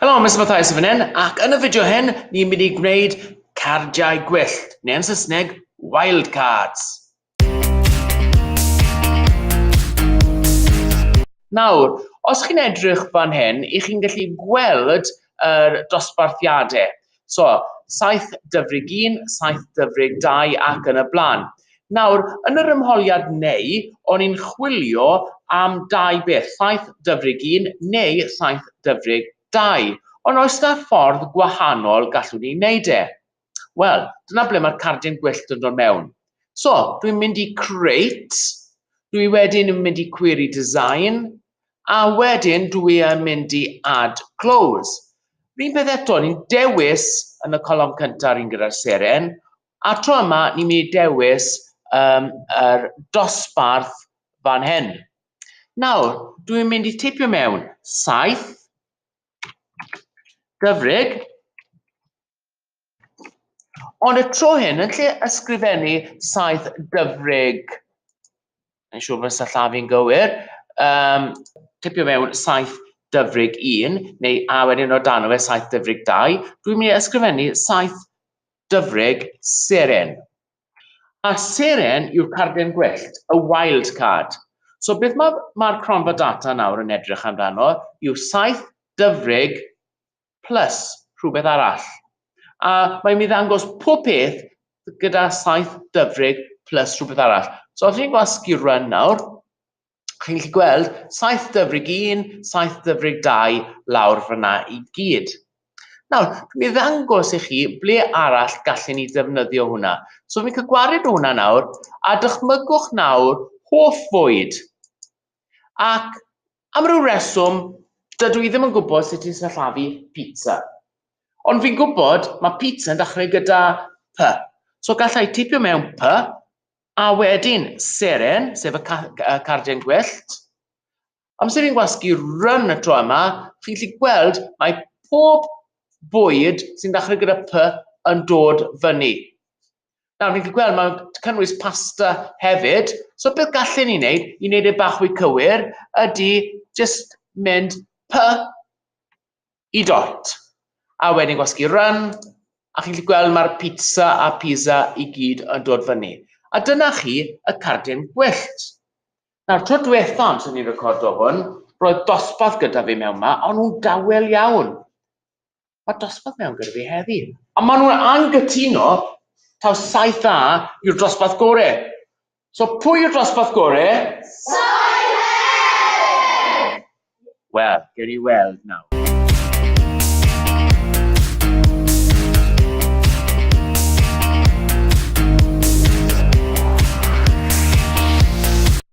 Helo, Mister Mathias yn fan hyn, ac yn y fideo hyn, ni'n mynd i gwneud cardiau gwyllt, neu yn Saesneg, wild cards. Nawr, os chi'n edrych fan hyn, i chi'n gallu gweld yr dosbarthiadau. So, 7 dyfrig 1, 7 dyfrig 2 ac yn y blaen. Nawr, yn yr ymholiad neu, o'n i'n chwilio am dau beth, 7 dyfrig 1 neu 7 dyfrig 2. Ond oes yna ffordd gwahanol gallwn ni wneud e? Wel, dyna ble mae'r cardyn gwyllt yn dod mewn. So, dwi'n mynd i create, dwi wedyn yn mynd i query design, a wedyn dw i yn mynd i add close. Rhywun peth eto, ni'n dewis yn y colofn cyntaf rhywun gyda'r seren, a tro yma ni'n mynd i dewis um, yr dosbarth fan hyn. Nawr, dw i'n mynd i tipio mewn 7, gyfrig, Ond y tro hyn, yn lle ysgrifennu saith dyfrig, yn siŵr fod y llaf i'n gywir, um, tipio mewn saith dyfrig un, neu a wedyn o dan o fe saith dyfrig dau, dwi'n mynd i ysgrifennu saith dyfrig seren. A seren yw'r carden gwyllt, y wild card. So beth mae'r mae cronfa data nawr yn edrych amdano yw saith dyfrig plus rhywbeth arall. A mae'n mynd i ddangos pob peth gyda saith dyfrig plus rhywbeth arall. So os chi'n gwasgu run nawr, chi'n gallu gweld saith dyfrig un, saith dyfrig dau lawr fyna i gyd. Nawr, mi ddangos i chi ble arall gallen ni ddefnyddio hwnna. So fi'n cael gwared o hwnna nawr, a dychmygwch nawr hoff fwyd. Ac Am ryw reswm, dydw i ddim yn gwybod sut i sillafu pizza. Ond fi'n gwybod, mae pizza yn dechrau gyda P, so galla i tipio mewn P, a wedyn seren, sef y cardiau'n gwyllt. Amser i'n gwasgu run y tro yma, chi'n gallu gweld mae pob bwyd sy'n dechrau gyda P yn dod fyny. Nawr, ni'n gallu gweld, mae'n cynnwys pasta hefyd. So beth gallen ni wneud, i wneud e bach fwy cywir, ydy just mynd py i dot. A wedyn gwasgu run, a chi'n gallu gweld mae'r pizza a pizza i gyd yn dod fyny. A dyna chi y cardyn gwyllt. Nawr, tro diwethaf sy'n ni'n recordo hwn, roedd dosbarth gyda fi mewn ma, ond nhw'n dawel iawn. Mae dosbarth mewn gyda fi heddi. A maen nhw'n anghytuno taw saith dda yw'r dosbarth gore. So pwy yw'r dosbarth gore? Saith E! Wel, gewn ni weld nawr.